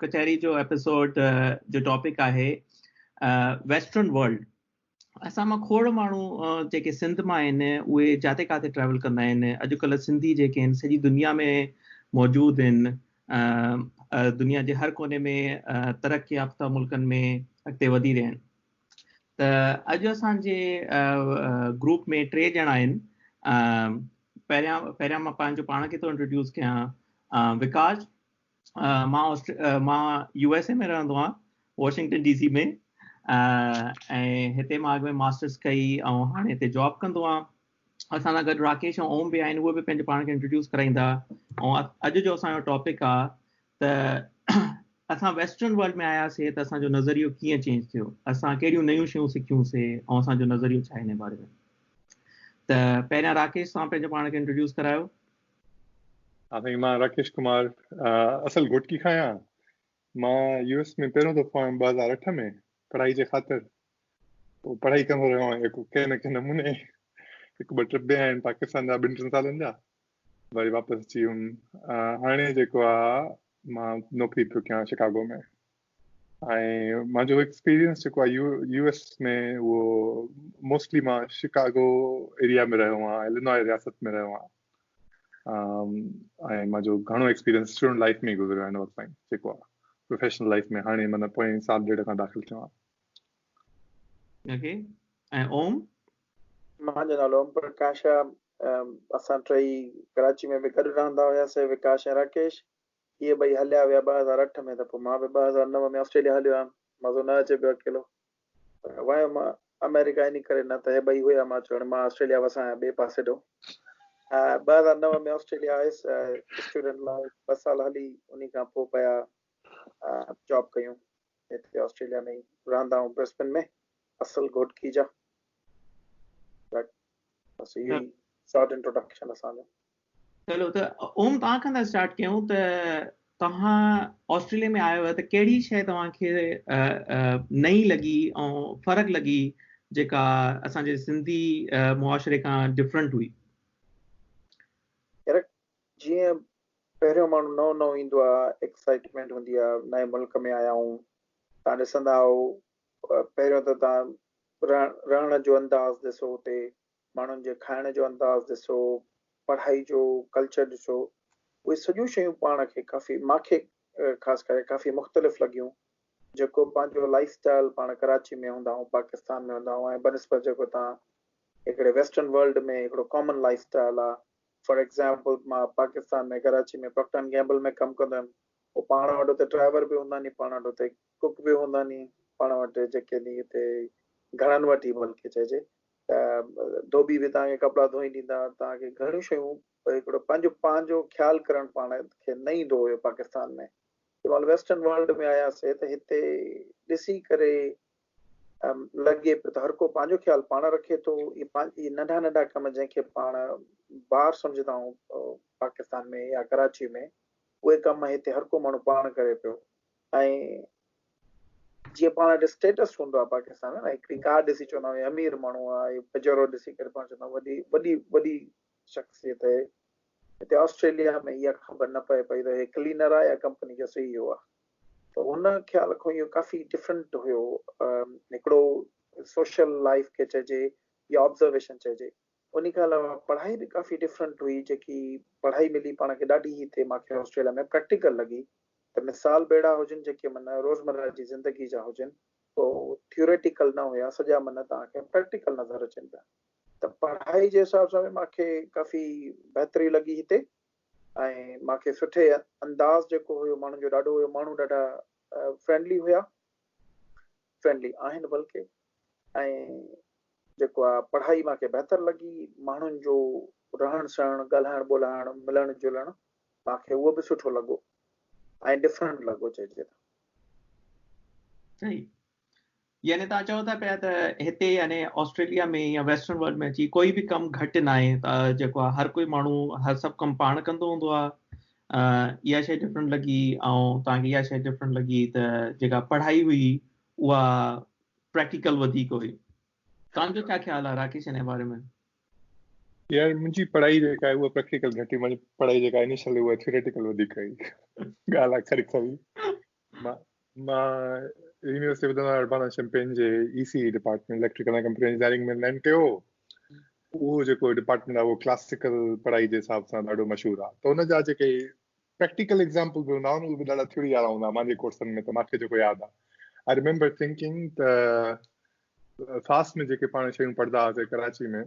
ڪچهري جو ايپيسوڊ جو ٽاپڪ آهي ويسٽرن ورلڊ اسان مان کوڙ ماڻهو جيڪي سنڌ مان آهن اهي جاٿي ڪاٿي ٽريول ڪندا آهن اڄڪلهه سنڌي جيڪي آهن سڄي دنيا ۾ موجود آهن دنيا جي هر ڪوني ۾ ترقي يافته ملڪن ۾ اڳتي وڌي رهيا آهن ته اڄ اسانجي گروپ ۾ ٽي ڄڻا آهن پهريان پهريان مان پنهنجو پاڻ کي ٿو انٽروڊيوس ڪيان وڪاس مان مان يو ايس اي ۾ رهندو آهيان واشنگٽن ڊي سي ۾ ۽ هتي مان اڳ ۾ ماسٽرس ڪئي ۽ هاڻي هتي جاب ڪندو آهيان اسان سان گڏ راڪيش ۽ اوم به آهن اهي به پنهنجو پاڻ کي انٽروڊيوس ڪرائيندا ۽ اڄ جو اسانجو ٽاپڪ آهي ته اسان ويسٽرن ورلڊ ۾ آياسي ته اسانجو نظريو ڪيئن چينج ٿيو اسان ڪهڙيون نيون شيون سکيوسي ۽ اسانجو نظريو ڇا آهي ان باري ۾ ته پهريان راڪيش سان پنهنجو پاڻ کي انٽروڊيوس ڪرايو سائين مان راڪيش ڪمار اصل گهوٽڪي کان آهيان مان يو ايس ۾ پهريون دفعو آيم ٻه هزار اٺ ۾ پڙهائي جي خاطر پڙهائي ڪندو رهيو آهيان هڪ ڪنهن نه ڪنهن نموني هڪ ٻه ٽرپ به آهن پاڪستان جا ٻن ٽن سالن جا وري واپس اچي ويم هاڻي جيڪو آهي مان نوڪري پيو ڪيان شڪاگو ۾ ۽ مانجو ايڪسپيرينس جيڪو آهي يو ايس ۾ اهو موسٽلي مان شڪاگو ايريا ۾ رهيو آهيان الينوء رياست ۾ رهيو آهيان ۽ مانجو گهڻو ايڪسپيرينس اسٽوڊنٽ لائف ۾ گذريو آهي ان وقت تائين جيڪو آهي پروفيشنل لائف ۾ هاڻي مانا پوئين سال ڏيڍ کان داخل ٿيو آهيان اوڪي ۽ اوم مانجو نالو اوم پرڪاش اسان ٽيئي ڪراچي ۾ به گڏ رهندا هياسي وڪاش ۽ راڪيش اهي ٻئي هليا ويا ٻه هزار اٺ ۾ ته پوء مان به ٻه هزار نو ۾ آسٽريليا هليو آيم. مزو نه اچي پيو اڪيلو. پر ويم آمريڪا انهي ڪري نه ته هي ٻئي هيا مان چيو هاڻي مان آسٽريليا وسان آهيان ٻئي پاسي ڏو. ٻه هزار نو ۾ آسٽريليا آيس اسٽوڊنٽ لاء ٻه سال هلي انهي کان پوء پيا جاب ڪيون هتي آسٽريليا ۾ ئي رهندا آهيون برسبن ۾ اصل گهوٽڪي جا بس اهو ئي شارٽ انٽروڊڪشن اسان جو. چلو ته اوم توهان کان ٿا اسٽارٽ ڪيون ته توهان آسٽريليا ۾ آيو ته ڪهڙي شيء توهان کي نئين لڳي ۽ فرق لڳي جيڪا اسان جي سنڌي معاشري کان ڊفرنٽ هئي جيئن پهريون ماڻهو نئون نئون ايندو آهي ايڪسائٽمينٽ هوندي آهي نئين ملڪ ۾ آيا آهيون تان ڏسندا آهيو پهريون ته تان رهڻ جو انداز ڏسو اتي ماڻهن جي کائڻ جو انداز ڏسو، پڙهائي جو ڪلچر ڏسو، اهي سڄيون شيون پاڻ کي ڪافي ماکي خاص ڪري ڪافي مختلف لڳيون، جيڪو پنهنجو لائيف اسٽائل پاڻ ڪراچي ۾ هوندا آهون پاڪستان ۾ هوندا آهون ۽ بنسبت جيڪو تان هڪڙي ويسٽرن ورلڊ ۾ هڪڙو ڪامن لائيف اسٽائل آهي فار ايگزامپل مان Pakistan ۾ Karachi ۾ Procter and Gamble ۾ ڪم ڪندو هيم هو پاڻ وٽ اتي ڊرائيور به هوندا آهن پاڻ وٽ اتي ڪوڪ به هوندا ني پاڻ وٽ جيڪي ني هتي گهڻن وٽ ئي بلڪه چئجي ته ڌوٻي به توهان کي ڪپڙا ڌوئي ڏيندا توهان کي گهڻيون شيون پر هڪڙو پنهنجو پنهنجو خيال ڪرڻ پاڻ کي نه ايندو هيو پاڪستان ۾ جنهن مهل ويسٽرن ورلڊ ۾ آياسي ته هتي ڏسي ڪري لڳي پيو ته هر ڪو پنهنجو خيال پاڻ رکي ٿو اي ننڍا ننڍا ڪم جنهن کي پاڻ بار سمجهندا آهيون پاڪستان ۾ يا ڪراچي ۾ اهي ڪم هتي هر ڪو ماڻهو پاڻ ڪري پيو ۽ جيئن پاڻ وٽ اسٽيٽس هوندو آهي پاڪستان ۾ نه هڪڙي ڪار ڏسي چوندا آهيون امير ماڻهو آهي پجيرو ڏسي ڪري پاڻ چوندا وڏي وڏي وڏي شخصيت آهي هتي آسٽريليا ۾ اها خبر نه پئي پئي ته هي کلينر آهي يا ڪمپني جو سي اي او آهي ته ان خيال کان اهو ڪافي ڊفرنٽ هيو هڪڙو سوشل لائف کي چئجي يا آبزرويشن چئجي انهي کان علاوه پڙهائي به ڪافي ڊفرنٽ هئي جيڪي پڙهائي ملي پاڻ کي ڏاڍي هي تي مان کي آسٽريليا ۾ پريڪٽيڪل لڳي ته مثال بيڙا هجن جيڪي من روزمره جي زندگي جا هجن ته ٿيوريٽيڪل نه هيا سڄا من توهان کي پريڪٽيڪل نظر اچن پيا ته پڙهائي جي حساب سان به مان کي ڪافي بهتري لڳي هتي ۽ مان کي سٺي انداز جيڪو هيو ماڻهن جو ڏاڍو هيو ماڻهو ڏاڍا فرينڊلي هيا فرينڊلي آهن بلڪه ۽ جيڪو آ پڙهائي مان کي بهتر لڳي ماڻهن جو رهڻ سهڻ ڳالهائڻ ٻولهائڻ ملڻ جلڻ مان کي اهو به سٺو لڳو ۽ ڊفرنٽ لڳو چئجي ته صحيح يعني تان چاهو ٿا پيا ته هتي يعني آسٽريليا ۾ يا ويسٽرن ورلڊ ۾ اچي ڪوئي به ڪم گهٽ نه آهي ته جيڪو آ هر ڪوئي ماڻهو هر سڀ ڪم پاڻ ڪندو هوندو آ ۽ اها شيء ڊفرنٽ لڳي ۽ توهان کي اها شيء ڊفرنٽ لڳي ته جيڪا پڙهائي هئي اها پريڪٽيڪل وڌيڪ هئي توهان جو ڇا خيال آهي راڪيش انهي باري ۾ يار منهنجي پڙهائي جيڪا آهي اها پريڪٽيڪل گهٽ هئي منهنجي پڙهائي جيڪا انيشل هئي اها ٿيوريٽيڪل وڌيڪ هئي ڳالهه آخر کئي مان يونيورسٽي آف بدن اربان ۽ شمپين جي E C department electrical ۽ computer engineering ۾ land ڪيو اهو جيڪو ڊپارٽمنٽ آهي اهو ڪلاسيڪل پڙهائي جي حساب سان ڏاڍو مشهور آهي ته ان جا جيڪي پريڪٽيڪل ايگزامپل به هوندا اهي به ڏاڍا ٿيوري وارا هوندا مانجي ڪورسن ۾ ته ماکي جيڪو ياد آهي آء ريمبر ٿنڪنگ ته فاس ۾ جيڪي پاڻ شيون پڙهندا هئاسي ڪراچي ۾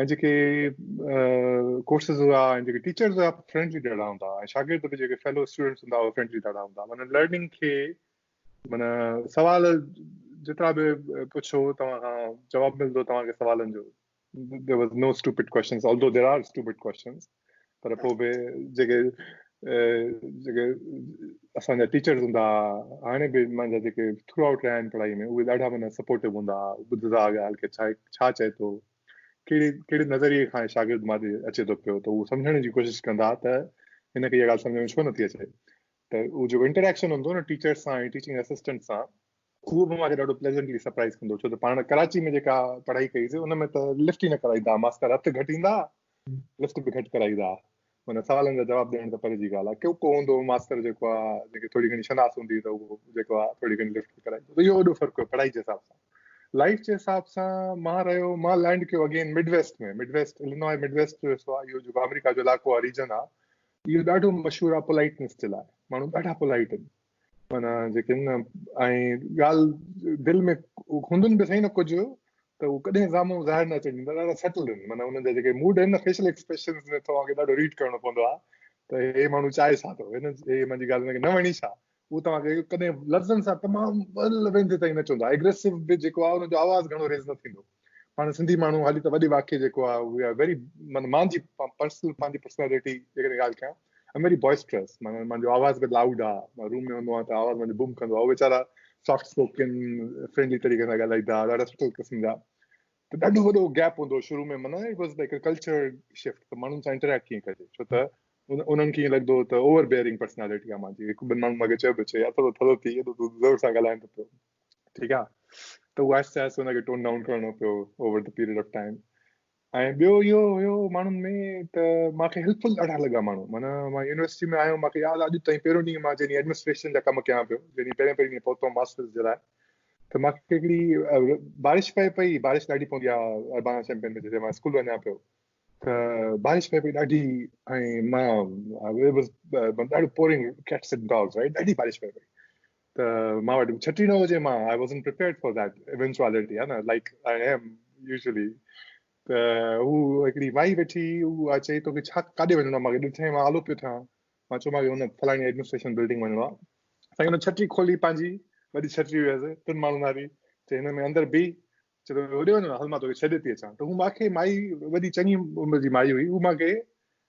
۽ جيڪي ڪورسز هئا ۽ جيڪي ٽيچرز هئا فرينڊلي ڏاڍا هوندا هئا ۽ شاگرد به جيڪي فيلو اسٽوڊنٽس هوندا هئا فرينڊلي ڏاڍا هوندا هئا معنی لرننگ کي معنی سوال جيترا به پڇو توهان کان جواب ملندو توهان کي سوالن جو there was no stupid questions although there are stupid questions پر پوء به جيڪي جيڪي اسان جا ٽيچرز هوندا ها هاڻي به مانجا جيڪي ٿرو آئوٽ رهيا آهن پڙهائي ۾ اهي ڏاڍا معنيٰ سپورٽو هوندا ها ٻڌندا ها ڳالهه ڪي ڇا چئي ٿو ڪهڙي ڪهڙي نظريي کان شاگرد ماڏي اچي ٿو پيو ته اهو سمجهڻ جي ڪوشش ڪندا ها ته هن کي اها ڳالهه سمجهه ۾ ڇو نٿي اچي ته اهو جيڪو انٽريڪشن هوندو نه ٽيچرز سان ٽيچنگ اسسٽنٽ سان اهو به مان کي ڏاڍو پليزنٽلي سرپرائز ڪندو ڇو ته پاڻ ڪراچي ۾ جيڪا پڙهائي ڪئي سي ان ۾ ته لفٽ ئي نه ڪرائيندا ماستر هٿ گهٽ ايندا لفٽ به گهٽ ڪرائيندا ان سوالن جا جواب ڏيڻ ته پري جي ڳالهه آهي ڪيو ڪو هوندو ماستر جيڪو آهي جيڪي ٿوري گهڻي شناس هوندي ته اهو جيڪو آهي ٿوري گهڻي لفٽ ڪرائيندو اهو وڏو فرق هو پڙهائي جي حساب سان لائف جي حساب سان مان رهيو مان لينڊ ڪيو again Midwest ۾ Midwest Illinois Midwest جو حصو آهي اهو جيڪو آمريڪا جو علائقو آهي ريجن آهي اهو ڏاڍو مشهور آهي پولائٽنس جي لاء ماڻهو ڏاڍا پولائٽ آهن معنيٰ جيڪي آهن نه ۽ ڳالهه دل ۾ هوندن به سهي نه ڪجهه ته هو ڪڏهن سامهون ظاهر نه اچڻ ڏيندا ڏاڍا سيٽلڊ آهن معنيٰ انهن جا جيڪي موڊ آهن نه فيشل ايڪسپريشنز ۾ توهان کي ڏاڍو ريڊ ڪرڻو پوندو آهي ته هي ماڻهو چاهي ڇا ٿو هن هي منهنجي ڳالهه هن کي نه وڻي ڇا هو توهان کي ڪڏهن لفظن سان تمام ويندي تائين نه چوندو آهي ايگريسو به جيڪو آهي ان جو آواز گهڻو ريز نه ٿيندو پاڻ سنڌي ماڻهو هالي ته وڏي واقعي جيڪو آهي وي آر ويري معنيٰ مان جي پرسنل پنهنجي پرسنالٽي جيڪڏهن ڳالهه ڪيان آئم ويري بوائسٽرس معنيٰ منهنجو آواز به لائوڊ آهي مان روم ۾ هوندو آهيان ته آواز منهنجو بوم ڪندو آهي ويچارا سافٽ اسپوڪن فرينڊلي طريقي سان ڳالهائيندا ڏاڍا سٺو قسم جا ته ڏاڍو وڏو گيپ هوندو شروع ۾ معنيٰ it was like culture shift ته ماڻهن سان انٽريڪٽ ڪيئن ڪجي ڇو ته انهن کي ائين لڳندو ته اوور بيئرنگ پرسنالٽي آهي مانجي هڪ ٻن ماڻهن مونکي چيو به چي يار ٿورو ٿورو ٿي ايڏو زور سان ڳالهائين ته پيو ٺيڪ آ ته اهو آهستي آهستي ان کي ٽون ڊائون ڪرڻو پيو over the period of time ۽ ٻيو اهو هيو ماڻهن ۾ ته مونکي هيلپفل ڏاڍا لڳا ماڻهو مانا مان يونيورسٽي ۾ آيو مونکي ياد اڄ تائين پهريون ڏينهن مان جڏهن ايڊمنسٽريشن جا ڪم ڪيان پيو جڏهن پهرين پهرين ڏينهن پهتو ماسترس جي لاء ته مونکي هڪڙي بارش پئي پئي بارش ڏاڍي پوندي آهي اربانا چيمپئن ۾ جڏهن مان اسڪول وڃان پيو ته بارش پئي پئي ڏاڍي ۽ مان ڏاڍو پورنگ ڪيٽس ڊاگس رائٽ ڏاڍي بارش پئي پئي ته مان وٽ ڇٽي نه هجي مان I wasn't prepared for that eventuality ها نه لائڪ آئي ايم يوزلي ته هو هڪڙي مائي ويٺي هو چئي ٿو ڪي ڇا ڪاڏي وڃڻو ماکي ڏٺئي مان آلو پيو ٿيان مان چيو ماکي هن فلاني ايڊمنسٽريشن بلڊنگ وڃڻو آ سائين هن ڇٽي کولي پنهنجي وڏي ڇٽي هيس ٽن ماڻهن واري چي هن ۾ اندر بي چي هوڏي وڃڻو هل مان توکي ڇڏي ٿي اچان ته هو ماکي مائي وڏي چڱي عمر جي مائي هئي هو ماکي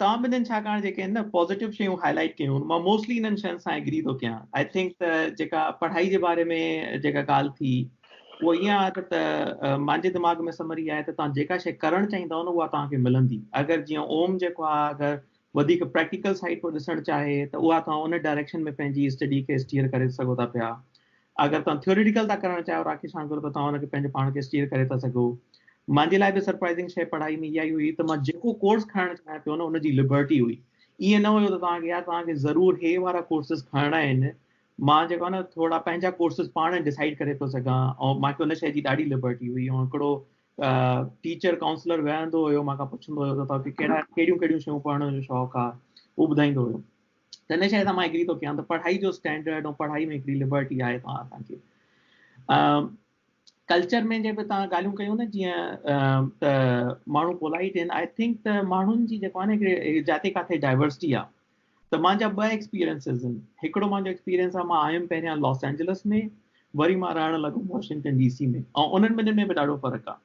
توهان ٻنهين ڇاڪاڻ جيڪي هن نه پازيٽو شيون هاء لائيٽ ڪيون هن مان موسٽلي انهن شين سان ايگري ٿو ڪيان آء ٿنڪ ته جيڪا پڙهائي جي باري ۾ جيڪا ڳالهه ٿي اهو ائين آهي ته ته مانجي دماغ ۾ سمري آهي ته توهان جيڪا شي ڪرڻ چاهيندؤ نه اها توهان کي ملندي اگر جيئن اوم جيڪو آهي اگر وڌيڪ پريڪٽيڪل سائيڊ پيو ڏسڻ چاهي ته اها توهان ان ڊائريڪشن ۾ پنهنجي اسٽڊي کي اسٽيئر ڪري سگهو ٿا پيا اگر توهان ٿيوريٽيڪل ٿا ڪرڻ چاهيو راکي شانڪر ته توهان ان کي پنهنجي پاڻ کي اسٽيئر ڪري ٿا سگهو. مانجي لاء به سرپرائزنگ شيء پڙهائي ۾ اها ئي هئي ته مان جيڪو ڪورس کڻڻ چاهيان پيو نه ان جي لبرٽي هئي. ائين نه هيو ته توهان کي يا توهان کي ضرور هي وارا ڪورسز کڻڻا آهن. مان جيڪو آهي نه ٿورڙا پنهنجا ڪورسز پاڻ ڊسائيڊ ڪري پيو سگهان ۽ مان کي ان شيء جي ڏاڍي لبرٽي هئي ۽ هڪڙو ٽيچر ڪائونسلر ويهندو هيو مان کان پڇندو هيو ته توهان کي ڪهڙا ڪهڙيون ڪهڙيون شيون پڙهڻ جو شوق آهي اهو ٻڌائيندو هيو. ته ان شيء سان مان ايگري ٿو ڪيان ته پڙهائي جو اسٽينڊرڊ ۽ پڙهائي ۾ هڪڙي لبرٽي آهي پاڻ اسان کي ڪلچر ۾ جي به تان ڳالهيون ڪيون نه جيئن ته ماڻهو پولائيٽ آهن آئي ٿنڪ ته ماڻهن جي جيڪو آهي نه جاتي ڪاٿي ڊائورسٽي آهي ته مانجا ٻه ايڪسپيرينسز آهن هڪڙو مانجو ايڪسپيرينس آهي مان آيم پهريان لاس اينجلس ۾ وري مان رهڻ لڳم واشنگٽن ڊي سي ۾ ۽ انهن ٻنهي ۾ به ڏاڍو فرق آهي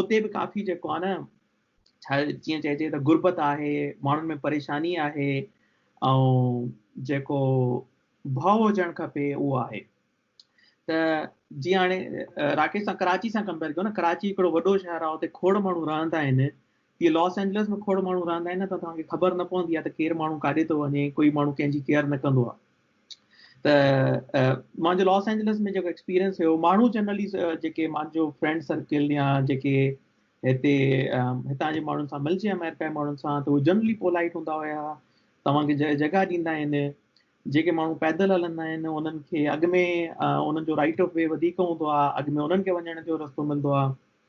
اتي به ڪافي جيڪو آهي نه جيئن چئجي ته غربت آهي ماڻهن ۾ پريشاني آهي ۽ جيڪو ڀؤ هجڻ کپي اهو آهي ته جيئن هاڻي راڪيش سان ڪراچي سان ڪمپيئر ڪيو نه ڪراچي هڪڙو وڏو شهر آهي اتي کوڙ ماڻهو رهندا آهن جي لاس اينجلس ۾ کوڙ ماڻهو رهندا آهن نه ته توهان کي خبر نه پوندي آهي ته ڪير ماڻهو ڪاڏي ٿو وڃي ڪوئي ماڻهو ڪنهن جي ڪيئر نه ڪندو آهي ته مانجو لاس اينجلس ۾ جيڪو ايڪسپيرينس هيو ماڻهو جنرلي جيڪي مانجو فرينڊ سرڪل يا جيڪي هتي هتان جي ماڻهن سان ملجي امريڪا جي ماڻهن سان ته هو جنرلي پولائٽ هوندا هيا توهان کي جگهه ڏيندا آهن جيڪي ماڻهو پيدل هلندا آهن انهن کي اڳ ۾ انهن جو رائيٽ آف وي وڌيڪ هوندو آهي اڳ ۾ انهن کي وڃڻ جو رستو ملندو آهي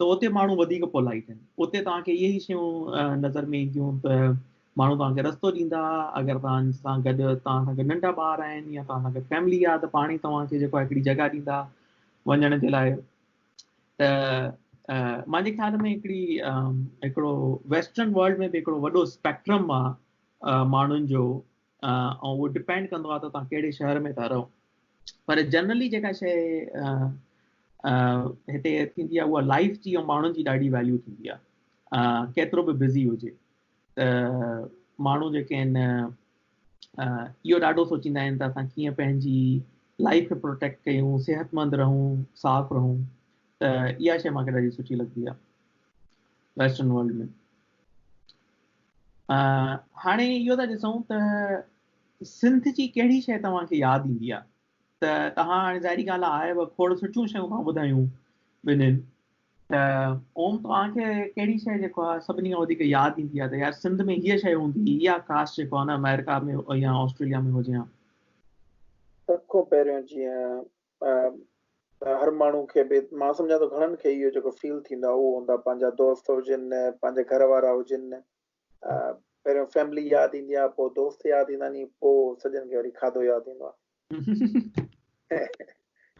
ته اتي ماڻهو وڌيڪ پولائيٽ آهن. اتي توهان کي اهي ئي شيون نظر ۾ اينديون ته ماڻهو توهان کي رستو ڏيندا، اگر توهان سان گڏ توهان سان گڏ ننڍا ٻار آهن يا توهان سان گڏ فيملي آهي ته پاڻ ئي توهان کي جيڪو آهي هڪڙي جڳهه ڏيندا وڃڻ جي لاء ته مانجي خيال ۾ هڪڙي هڪڙو ويسٽرن ورلڊ ۾ به هڪڙو وڏو اسپيڪٽرم آهي ماڻهن جو ۽ اهو ڊپينڊ ڪندو آهي ته توهان ڪهڙي شهر ۾ ٿا رهو پر جنرلي جيڪا شيء هتي ٿيندي آهي اها لائف جي ۽ ماڻهن جي ڏاڍي ويليو ٿيندي آهي ڪيترو به بزي هجي ته ماڻهو جيڪي آهن اهو ڏاڍو سوچيندا آهن ته اسان ڪيئن پنهنجي لائف کي پروٽيڪٽ ڪيون صحت مند رهون صاف رهون ته اها شيء مونکي ڏاڍي سٺي لڳندي آهي ويسٽرن ورلڊ ۾ هاڻي اهو ٿا ڏسون ته سنڌ جي ڪهڙي شيء توهان کي ياد ايندي آهي ته توهان هاڻي ظاهري ڳالهه آهي آهيو کوڙ سٺيون شيون ٿا ٻڌايون ٻنهين ته اوم توهان کي ڪهڙي شيء جيڪو آهي سڀني کان وڌيڪ ياد ايندي آهي ته يار سنڌ ۾ هيء شيء هوندي هئي اها ڪاش جيڪو آهي نه آمريڪا ۾ يا آسٽريليا ۾ هجي ها سڀ کان پهريون جيئن ته هر ماڻهو کي به مان سمجهان ٿو گهڻن کي اهو جيڪو فيل ٿيندو آهي اهو هوندا پنهنجا دوست هجن پنهنجا گهر وارا هجن پهريون فيملي ياد ايندي آهي پوء دوست ياد ايندا ني پوء سڄن کي وري کاڌو ياد ايندو آهي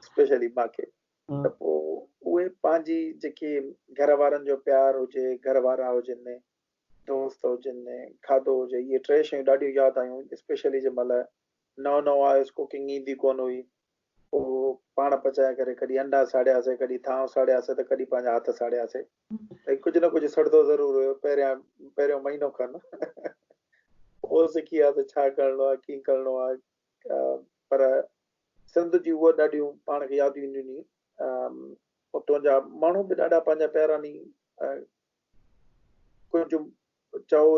اسپيشلي ماکي ته پوء اهي پنهنجي جيڪي گهر وارن جو پيار هجي گهر وارا هجن دوست هجن کاڌو هجي اهي ٽي شيون ڏاڍيون ياد آيون اسپيشلي جنهن مهل نئون نئون آيس ڪوڪنگ ايندي ڪونه هئي پوء پاڻ پچائي ڪري ڪڏهن انڊا ساڙياسي ڪڏهن ٿانو ساڙياسي ته ڪڏهن پنهنجا هٿ ساڙياسي ڀئي ڪجهه نه ڪجهه سڙندو ضرور هيو پهريان پهريون مهينو کن پوء سکي ويا ته ڇا ڪرڻو آهي ڪيئن ڪرڻو آهي پر سنڌ جي اهو ڏاڍيون پاڻ کي ياديون ڏني اتو جا ماڻهو به ڏاڍا پنهنجا پيارا ني ڪجهه چئو،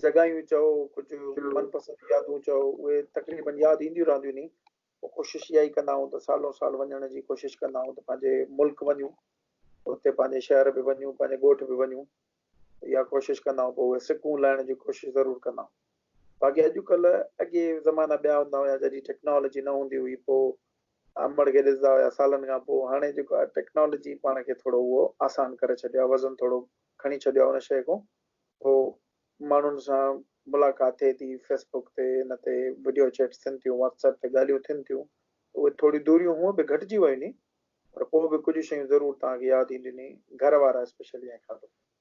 جڳايون چئو، ڪجهه من پسند يادون چئو، اهي تقريبن ياد اينديون رهنديون ني. ڪوشش اها ئي ڪندا آهيون ته سالون سال وڃڻ جي ڪوشش ڪندا آهيون ته پنهنجي ملڪ وڃون، اتي پنهنجي شهر به وڃون، پنهنجي ڳوٺ به وڃون. اها ڪوشش ڪندا آهيون، پوء اهي سڪون لائڻ جي ڪوشش ضرور ڪندا آهيون. باقي اڄڪلهه اڳي زمانا ٻيا هوندا هيا، جڏهن ٽيڪنالاجي نه هوندي هئي، پوء امڙ کي ڏسندا هيا سالن کان پوء هاڻي جيڪو آهي ٽيڪنالاجي پاڻ کي ٿورو اهو آسان ڪري ڇڏيو آهي وزن ٿورو کڻي ڇڏيو آهي ان شيء کان اهو ماڻهن سان ملاقات ٿئي ٿي فيس بوڪ تي ان تي وڊيو چيٽس ٿين ٿيون واٽس ايپ تي ڳالهيون ٿين ٿيون اهي ٿوريون دوريون هونء به گهٽجي ويون ني پر پوء به ڪجهه شيون ضرور توهان کي ياد اينديون ني گهر وارا اسپيشلي ۽ کاڌو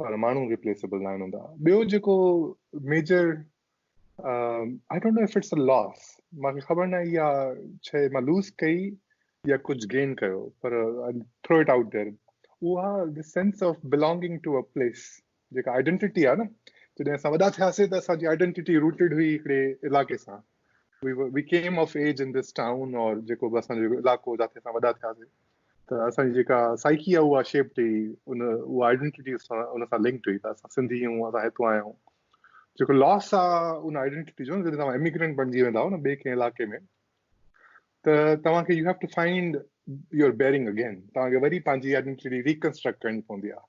پر ماڻهو ريپليسبل ناهن هوندا ٻيو جيڪو major I don't know if it's a loss مان کي خبر ناهي اها شيء مان لوز ڪئي يا ڪجهه گين ڪيو پر ٿرو اٽ آؤٽ دير اها the sense of belonging to a place جيڪا آئيڊينٽي آهي نه جڏهن اسان وڏا ٿياسي ته اسان جي آئيڊينٽي روٽيڊ هئي هڪڙي علائقي سان we we came of age in this town or جيڪو به اسان جو علاقو جاٿي اسان وڏا ٿياسي ته اسان جي جيڪا سائيڪي آهي اها شيپ ٿي ان اها آئيڊنٽي ان سان لنڪ ٿي ته اسان سنڌي آهيون اسان هتو آيا آهيون جيڪو لاس آهي ان آئيڊنٽي جو جڏهن توهان اميگرنٽ بڻجي ويندا آهو نه ٻئي ڪنهن علاقي ۾ ته توهان کي you have to find your bearing again توهان کي وري پنهنجي آئيڊنٽي ريڪنسٽرڪٽ ڪرڻي پوندي آهي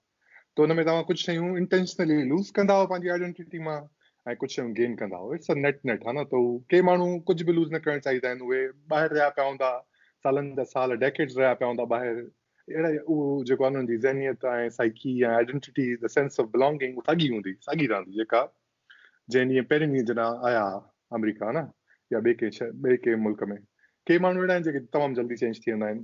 ته ان ۾ توهان ڪجهه شيون انٽينشنلي لوز ڪنداؤ پنهنجي آئيڊينٽيٽي مان ۽ ڪجهه شيون گين ڪنداؤ اٽس ا نيٽ نيٽ ها نه ته ڪي ماڻهو ڪجهه به لوز نه ڪرڻ چاهيندا آهن اهي ٻاهر رهيا پيا هوندا سالن جا سال ڊيڪيڊز رهيا پيا هوندا ٻاهر اهڙا اهو جيڪو انهن جي ذهنيت ۽ psyche ۽ identity the sense of belonging ساڳي هوندي ساڳي رهندي جيڪا جنهن ڏينهن پهرين ڏينهن جڏهن آيا آمريڪا نه يا ٻئي ڪنهن ٻئي ڪنهن ملڪ ۾ ڪي ماڻهو اهڙا آهن جيڪي تمام جلدي چينج ٿي ويندا آهن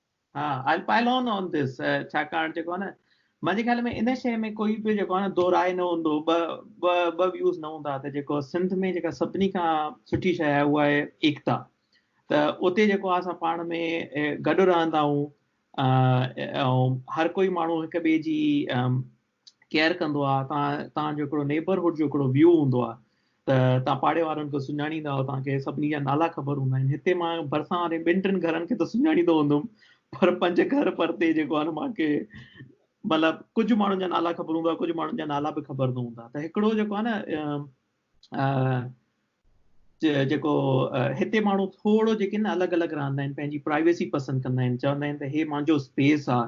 ها I'll pile on on this ڇاڪاڻ جيڪو آهي نه منهنجي خيال ۾ ان شيء ۾ ڪوئي به جيڪو آهي نه دو راء نه هوندو ٻه ٻه ٻه ويوز نه هوندا ته جيڪو سنڌ ۾ جيڪا سڀني کان سٺي شيء آهي اها آهي ايڪتا ته اتي جيڪو آهي اسان پاڻ ۾ گڏ رهندا آهيون ۽ هر ڪوئي ماڻهو هڪ ٻئي جي ڪيئر ڪندو آ تان تان جو هڪڙو نيبرهوڊ جو هڪڙو ويو هوندو آ ته تان پاڙي وارن کي سڃاڻيندا آهيو تان کي سڀني جا نالا خبر هوندا آهن هتي مان ڀرسان واري ٻن ٽن گهرن کي ته سڃاڻيندو هوندم پر پنج گهر پرتي جيڪو آهن مان کي مطلب ڪجهه ماڻهن جا نالا خبر هوندا ڪجهه ماڻهن جا نالا به خبر نه هوندا ته هڪڙو جيڪو آ نه جيڪو هتي ماڻهو ٿورو جيڪي نه الڳ الڳ رهندا آهن پنهنجي پرائيويسي پسند ڪندا آهن چوندا آهن ته هي مانجو اسپيس آ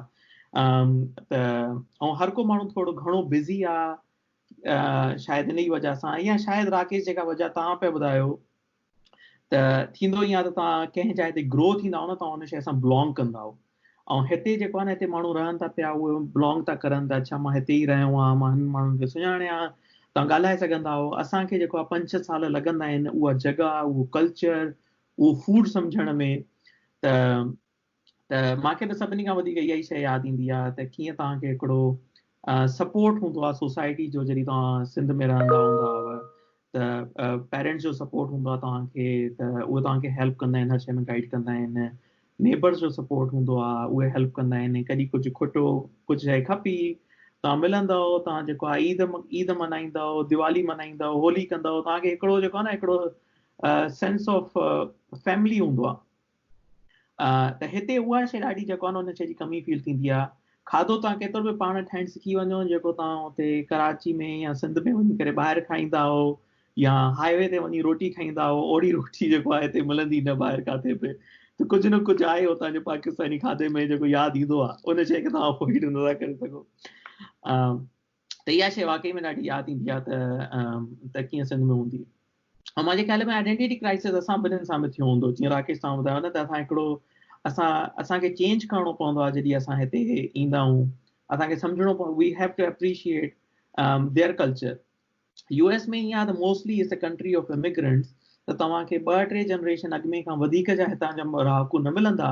ته ۽ هر ڪو ماڻهو ٿورو گهڻو بزي آ شايد انهي وجه سان يا شايد راڪيش جيڪا وجه توهان پيا ٻڌايو ته ٿيندو ائين آهي ته توهان ڪنهن جاء تي گرو ٿيندا آهيو نه توهان ان شيء سان بلانگ ڪندا آهيو ۽ هتي جيڪو آهي نه هتي ماڻهو رهن ٿا پيا اهي بلانگ ٿا ڪرن ته اڇا مان هتي ئي رهيو آهيان مان هن ماڻهن کي سڃاڻيا توهان ڳالهائي سگهندا آهيو اسان کي جيڪو آهي پنج ڇهه سال لڳندا آهن اها جڳهه اهو ڪلچر اهو فوڊ سمجهڻ ۾ ته ته مان کي ته سڀني کان وڌيڪ اها ئي شيء ياد ايندي آهي ته ڪيئن توهان کي هڪڙو سپورٽ هوندو آهي سوسائٽي جو جڏهن توهان سنڌ ۾ رهندا هوندا هئا ته پيرنٽس جو سپورٽ هوندو آهي توهان کي ته اهي توهان کي هيلپ ڪندا آهن هر شيء ۾ گائيڊ ڪندا آهن نيبرس جو سپورٽ هوندو آهي اهي هيلپ ڪندا آهن ڪڏهن ڪجهه کٽو ڪجهه شيء کپي توهان ملندا توهان جيڪو آهي عيد عيد ملهائيندا ديوالي ملهائيندا هولي ڪندا توهان کي هڪڙو جيڪو آهي نه هڪڙو سينس آف فيملي هوندو آهي ته هتي اها شيء ڏاڍي جيڪو ان شيء جي ڪمي فيل ٿيندي آهي کاڌو توهان ڪيترو به پاڻ ٺاهڻ سکي وڃو جيڪو توهان اتي ڪراچي ۾ يا سنڌ ۾ وڃي ڪري ٻاهر کائيندا آهو يا هاء وي تي وڃي روٽي کائيندا آهو اوڙي روٽي جيڪو آهي هتي ملندي نه ٻاهر ڪاٿي به ته ڪجهه نه ڪجهه آهي اتان جو پاڪستاني کاڌي ۾ جيڪو ياد ايندو آهي ان شيء کي توهان افورڊ نه ٿا ڪري سگهو ته اها شيء واقعي ۾ ڏاڍي ياد ايندي آهي ته ته ڪيئن سنڌ ۾ هوندي ۽ مانجي خيال ۾ آئيڊينٽي ڪرائسز اسان ٻنهين سان به ٿيو هوندو جيئن راڪيش توهان ٻڌايو نه ته اسان هڪڙو اسان اسان کي چينج ڪرڻو پوندو آهي جڏهن اسان هتي ايندا آهيون اسان کي سمجهڻو پوندو we have to appreciate their culture U S ۾ ائين آهي ته mostly is a country of immigrants ته توهان کي ٻه ٽي جنريشن اڳ ۾ کان وڌيڪ جا هتان جا رهاڪو نه ملندا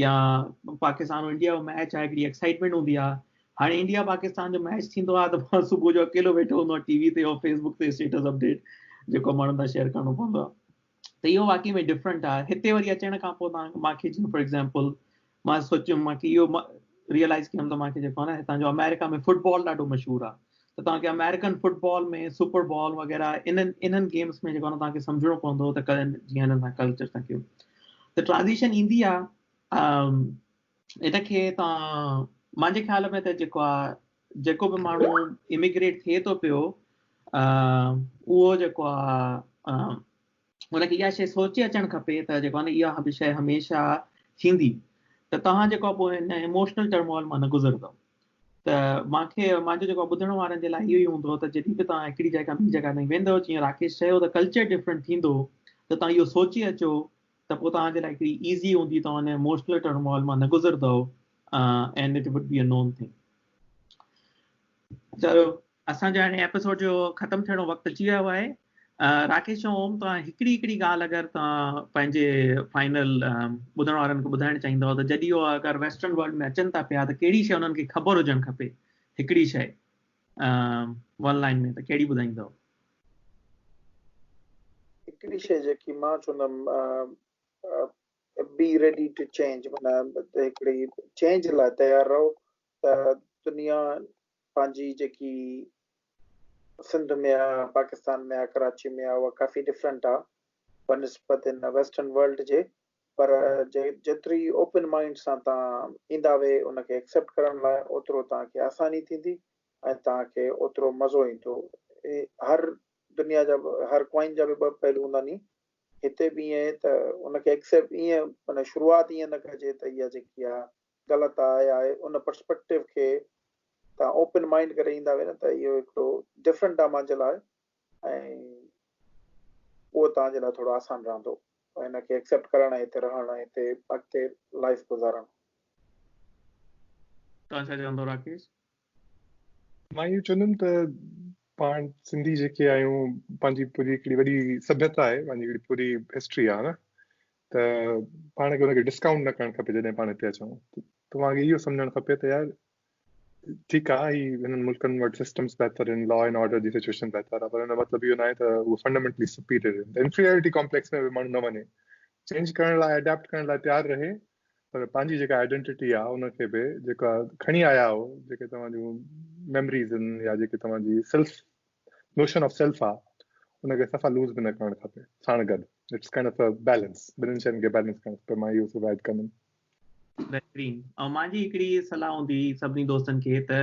يا پاڪستان انڊيا جو ميچ آهي هڪڙي ايڪسائٽمينٽ هوندي آهي هاڻي انڊيا پاڪستان جو ميچ ٿيندو آهي ته مان صبح جو اڪيلو ويٺو هوندو آهيان ٽي وي تي يا فيس بڪ تي اسٽيٽس اپڊيٽ جيڪو ماڻهن سان شيئر ڪرڻو پوندو آهي ته اهو واقعي ۾ ڊفرنٽ آهي هتي وري اچڻ کان پوء تان مانکي جيئن فار ايگزامپل مان سوچيم مانکي اهو ريئلائز ڪيم ته مانکي جيڪو آهي نه هتان جو آمريڪا ۾ فٽبال ڏاڍو مشهور آهي ته توهان کي آمريڪن فٽبال ۾ سپر بال وغيره انهن انهن گيمس ۾ جيڪو توهان کي سمجهڻو پوندو ته ڪڏهن جيئن هنن سان ڪلچر سان ڪيو ته ٽرانزيشن ايندي آهي ان کي توهان مانجي خيال ۾ ته جيڪو آهي جيڪو به ماڻهو اميگريٽ ٿئي ٿو پيو اهو جيڪو آهي هن کي اها شيء سوچي اچڻ کپي ته جيڪو آهي نه اها به شيء هميشه ٿيندي ته توهان جيڪو پوء ان ايموشنل ٽرمول مان نه گذرندو ته مان کي مانجو جيڪو ٻڌڻ وارن جي لاء اهو ئي هوندو ته جڏهن به توهان هڪڙي جاء کان ٻي جاء تائين ويندو جيئن راڪيش چيو ته ڪلچر ڊفرنٽ ٿيندو ته توهان اهو سوچي اچو ته پوء توهان جي لاء هڪڙي ايزي هوندي توهان ان ايموشنل ٽرمول مان نه گذرندو and it would be a new thing چلو اسان جو هاڻي ايپيسوڊ جو ختم ٿيڻ جو وقت اچي ويو آهي راڪيش ۽ اوم توهان هڪڙي هڪڙي ڳالهه اگر توهان پنهنجي فائنل ٻڌڻ وارن کي ٻڌائڻ چاهيندو ته جڏهن اهو اگر ويسٽرن ورلڊ ۾ اچن ٿا پيا ته ڪهڙي شي انهن کي خبر هجڻ کپي هڪڙي شي ون لائن ۾ ته ڪهڙي ٻڌائيندو هڪڙي شي جيڪي مان چوندم بي ريڊي ٽو چينج معنی هڪڙي چينج لاء تيار رهو ته دنيا پنهنجي جيڪي سنڌ ۾ آ پاڪستان ۾ آ ڪراچي ۾ آ اها ڪافي ڊفرنٽ آ بنسبت ان ويسٽرن ورلڊ جي پر جيتري اوپن مائنڊ سان تان ايندا وي ان کي ايڪسيپٽ ڪرڻ لاء اوترو تان کي آساني ٿيندي ۽ تان کي اوترو مزو ايندو هر دنيا جا هر ڪوائن جا به ٻه پهلو هوندا ني هتي به ائين ته ان کي ايڪسيپٽ ائين معنی شروعات ائين نه ڪجي ته اها جيڪي آ غلط آ يا ان پرسپيڪٽو کي تان اوپن مائنڊ ڪري ايندا وين ته اهو هڪڙو ڊفرنٽ آ مانجي لاء ۽ اهو تان جي لاء ٿورو آسان رهندو ان کي ايڪسيپٽ ڪرڻ ۽ هتي رهڻ ۽ هتي اڳتي لائف گذارڻ. تان ڇا چوندو راڪيش؟ مان اهو چوندم ته پاڻ سنڌي جيڪي آهيون پنهنجي پوري هڪڙي وڏي سڀيتا آهي پنهنجي هڪڙي پوري هسٽري آ نه ته پاڻ کي ان کي ڊسڪائونٽ نه ڪرڻ کپي جڏهن پاڻ هتي اچون توهان کي اهو سمجهڻ کپي ته يار ٺيڪ آ هي هنن ملڪن وٽ سسٽمز بهتر آهن لا اينڊ آرڊر جي سچويشن بهتر آهي پر هن مطلب اهو ناهي ته هو فنڊامينٽلي سپيريئر آهن انفيريئرٽي ڪامپليڪس ۾ به ماڻهو نه وڃي چينج ڪرڻ لاء اڊاپٽ ڪرڻ لاء تيار رهي پر پنهنجي جيڪا آئيڊنٽي آهي ان کي به جيڪا کڻي آيا آهو جيڪي توهان جون ميموريز آهن يا جيڪي توهان جي سيلف نوشن آف سيلف آ ان کي صفا لوز به نه ڪرڻ کپي ساڻ گڏ it's kind of a balance ٻنهن شين کي بيلنس ڪرڻ کپي مان اهو سگائيڊ ڪندم. بهترين ۽ مانجي هڪڙي صلاح هوندي سڀني دوستن کي ته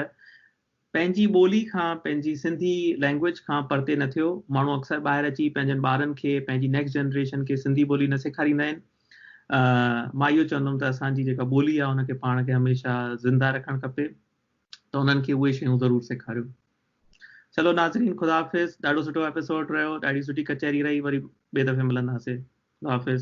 پنهنجي ٻولي کان پنهنجي سنڌي لينگويج کان پرتي نه ٿيو ماڻهو اڪثر ٻاهر اچي پنهنجن ٻارن کي پنهنجي نيڪسٽ جنريشن کي سنڌي ٻولي نه سيکاريندا آهن مان اهو چوندم ته اسان جي جيڪا ٻولي آهي ان کي پاڻ کي هميشه زنده رکڻ کپي ته انهن کي اهي شيون ضرور سيکاريون چلو ناظرين خدا حافظ ڏاڍو سٺو ايپيسوڊ رهيو ڏاڍي سٺي ڪچهري رهي وري ٻي دفعي ملنداسي خدا حافظ.